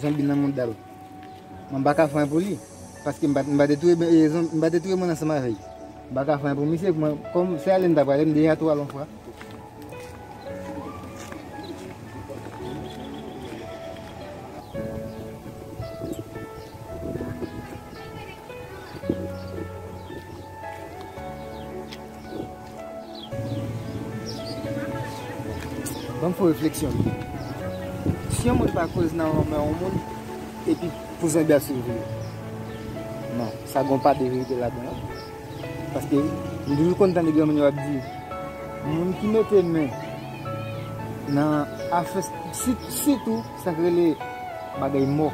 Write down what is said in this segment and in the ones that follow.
Zonbi nan moudal. Mwen paka fè anyen pou li. Paske m pa te touye zonbi. M pa te touye moun ansanm avè li. M paka fè anyen pou misye. Kòm se ale m ta prale m deja tou al yon fwa. Banm fon refleksyon. Si yon moun pa koz nan lanmò yon moun epi pou zen bèf sou li. Non, sa gon pa de verite ladan an. Paske m toujou konn tande granmoun yo ap di moun ki mete men nan afè sitou sa k rele bagay mò.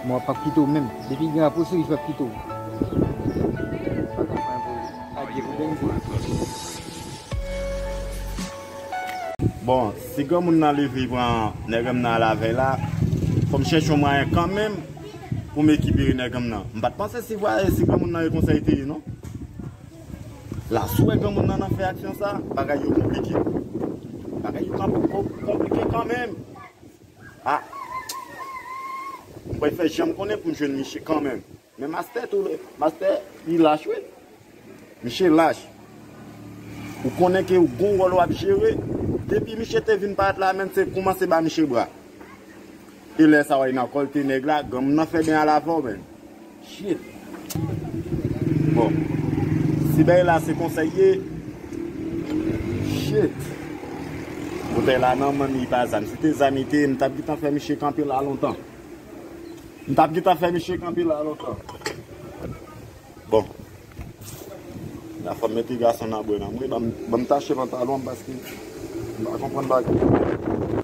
Mwen pap kite w menm. Depi gen apou sou li pap kite w. Bon si granmoun nan leve pran nèganm nan lavèy la fòm chèche yon mwayen kanmenm poum ekipere nèganm nan mpat panse si vwaye si granmoun nan e konsa li te ye non la sou wè granmoun nan nan fè aksyon sa bagay yo konplike bagay yo konplike kanmenm. Ah Mwen fè janm konnen poum jwenn miche kanmenm. Men master tou le master li lach wi. Miche lach. Ou konnen ke ou gon wòl wap jere. Depi miche te vin paret la menm se koumanse ba miche bra. E lè sa wè nan kòlte nèg la ganm nan fè ben alavò menm. Shit Bon Si bèy la se konsa l ye Shit Boutèy la nan men m li pa zam Si te zam li te ye m tap gentan fè misye kanpe la lontan M tap gentan fè misye kanpe la lontan Bon La fòm mete gason nan bwè nan mwen Ban m tache pantalon m paske m pa konprann bagay yo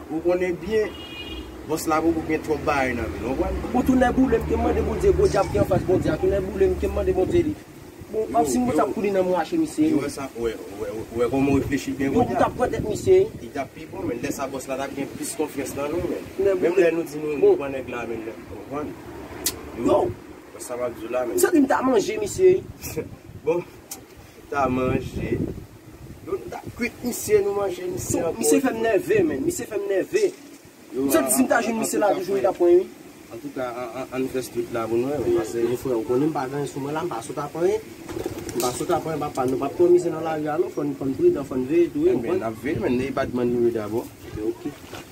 Ou konnen byen Boss la poko gen twòp bagay nan menl ou konprann. Bon tou nè boulem kem mande bondye gwo dyab ki anfas bondye a tou nè boulem kem mande bondye li bon wap si mwen tap kouri nan mwen ache misye yo ou wè kòman ou reflechi byen kounye a yo tap pran tèt misye li tap pi bon menn lè sa bòs la tap gen plis konfyans nan nou menn menm lè nou di nou pran nèg la menn ou konprann yo wè sa map diw la menn m santim ta manje misye bon ta manje. Nou ta kwit misye nou manje misye anko. Misye fèm nève menn misye fèm nève m santi sim ta jwenn misye la toujou m ta pran ui. Antouka ann fè street la pou nou wè wi pase. Bon frè ou konnen m pa gen anyen sou mwen la m pa sot ap anyen m pa sot ap anyen papa nou pap pran misye nan lari a non fòn fòn pridan fòn veye tou wi ou konprann. Ebyen nap veye men nèy badman nou ye dabò. Ok ok.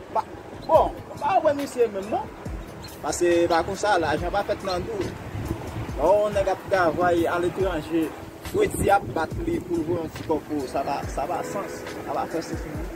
Ba bon ba wè misye menm non. Pase pa konsa lajan pa fèt nan dou. Lè yon nèg ap travay aletranje fredi ap bat li poul voye yon ti kòb pou ou sa pa sa pa sans sa pa fè sans menm.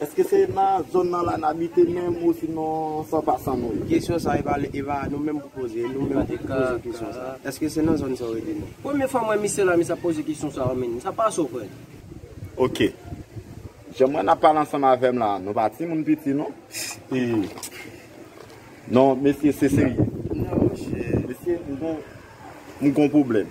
Eske se nan zone nan la n abite menm ou sinon san pa san nou ye? Kesyon sa e pa nou menm pou poze, e nou menm ki pou poze kesyon sa. Eske se nan zone sa ou rete menm? Premye fwa m wè misye la misye ap poze kesyon sa an menn. Sa pa sòprèn. Ok. Jan m wè n ap pale ansanm avè m la, nou pa timoun piti non. E Non mesye se serye. Non monchè. Mesye m gon m gon pwoblèm.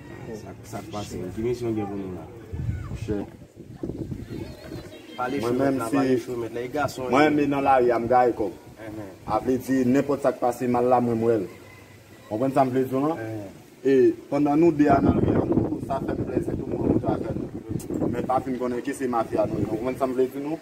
Sak pase menm? Ki misyon gen pou nou la? Monchè Pale chou mèt la, pale chou mèt la, e gason yo. Mwen menm nan lari a m gaye kòm. A vle di nenpòt sa k pase mal la mwen m wè l. Konprann sa m vle di w lan? E pandan nou 2 a nan lari a tou sa fè m plezi tou mwen monte avè l. Men pa fin konnen ke se mafya nou ye. Konprann sa m vle di nou?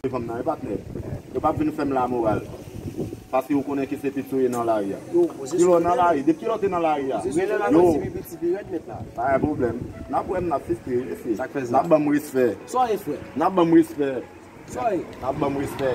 Kote fanm nan ye patnè? Yo pap vin fèm la moral paske yo konnen Kisepi tou ye nan lari a. Kilè w nan lari? Depi kilè w te nan lari a? Rele la non Kisepi ti pi rèd mèt la. Pa gen pwoblèm. Nap wèm nap fistri wi mesye. Sak fè sa? Nap banm respè. Sa w ye frè? Nap banm respè. Sa w ye? Nap banm respè.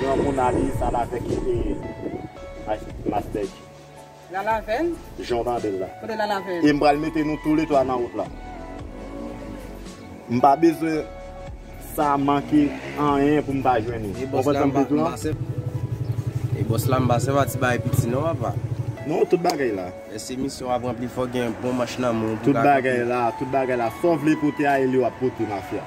Gran moun ale sal avek master Dji. Lala avèl? Jan w tande l la. Kote lala avèl? E m pral mete nou tou le 3 nan wout la. M pa bezwen sa manke anyen pou m pa jwenn nou. E bòs la m pa se e bòs la m pa se pa ti bagay piti non papa. Non tout bagay la. Lè se misyon w ap ranpli fòk gen bon manch nan men w. Tout bagay la, tout bagay la. Sa w vle pote a e li w ap pote mafya.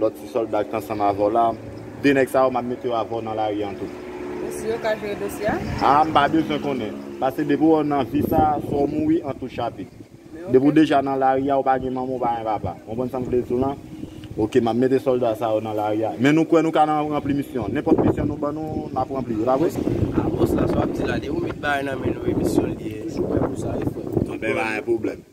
Lòt ti sòlda ki t ansanm avè w la. De nèg sa yo, m ap mete yo avè w nan lari an tou. Pou si yo ka jere dosye a? A, m pa bezwen konnen. Pase depi w nan vi sa a, swa w mouri an tou chapit. Depi w deja nan lari a, ou pa gen manman, ou pa gen papa. Ou konprann sa m vle di w lan? Oke, m ap mete sòlda sa yo nan lari a. Men nou kwè nou ka nan ranpli misyon. Nenpòt misyon nou ban nou, n ap ranpli. E pa vre? A, bòs la, sa w ap di la, depi w met bagay nan men nou e misyon li ye, m toujou prè pou sa wi frè m. Anben, pa gen pwoblèm.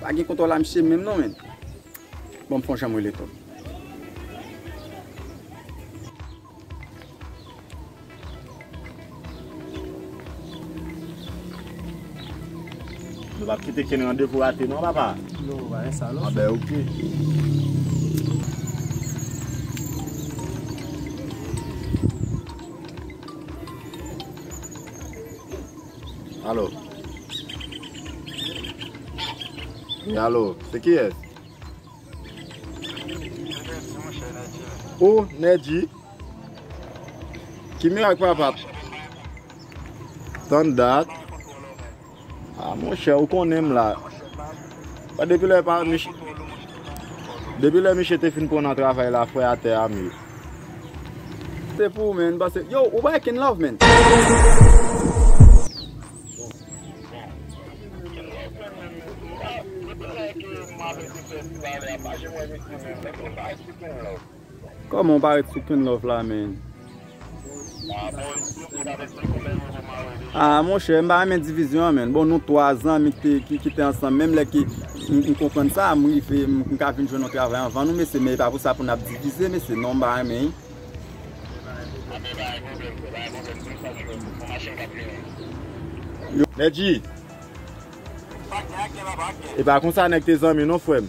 Pa gen kontò la misye menm non men. Banm fon janm rele to. Nou pa kite ken randevou rate non papa. Non pa gen sa non. A be ok. Alo Wi alo se kiyès Ou Nèji Ki mirak papa Tann dat A monchè ou konnen m la Depi lè Depi lè miche te fin pran nan travay la fwe atè a m ye Se pou ou men m pase. Yo ou bay kenn love men. Koman ou pa ret sou kenn love la men. Ah monchè m pa renmen divizyon an menn bon nou 3 zanmi ki te ansanm menm lè ke m konprann sa m rive m ka vin jwenn yon travay anvan nou mesye men e pa pou sa pou n ap divize mesye non m pa renmen Medjy e pa konsa nèg te zanmi non frè m.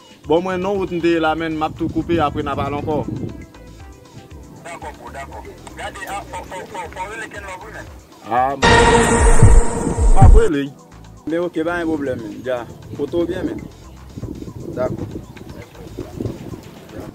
Bon mwen non wout m te ye la menn map tou koupe apre na pale ankò. Dakò bro dakò. Gade ah fò fò fò fò rele kenlove wi menn. Ah m ap rele y. Ebyen ok pa gen pwoblèm menn. Jah. Pote w byen menn. Dakò.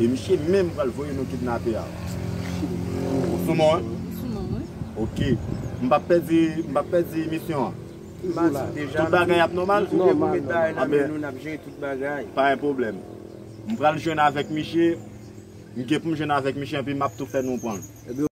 E misye menm pral voye nou kidnape a. Ou sou mwen? Ou sou mwen wi. Ok. M pap pèdi, m pap pèdi emisyon an? Toujou la. Tout bagay ap nòmal? Nòmal, nòmal. Tout bagay nan men nou, n ap jere tout bagay. Pa gen pwoblèm. M pral jwenn avèk misye, m gen pou m jwenn avèk misye epi m ap tou fè nou pran l.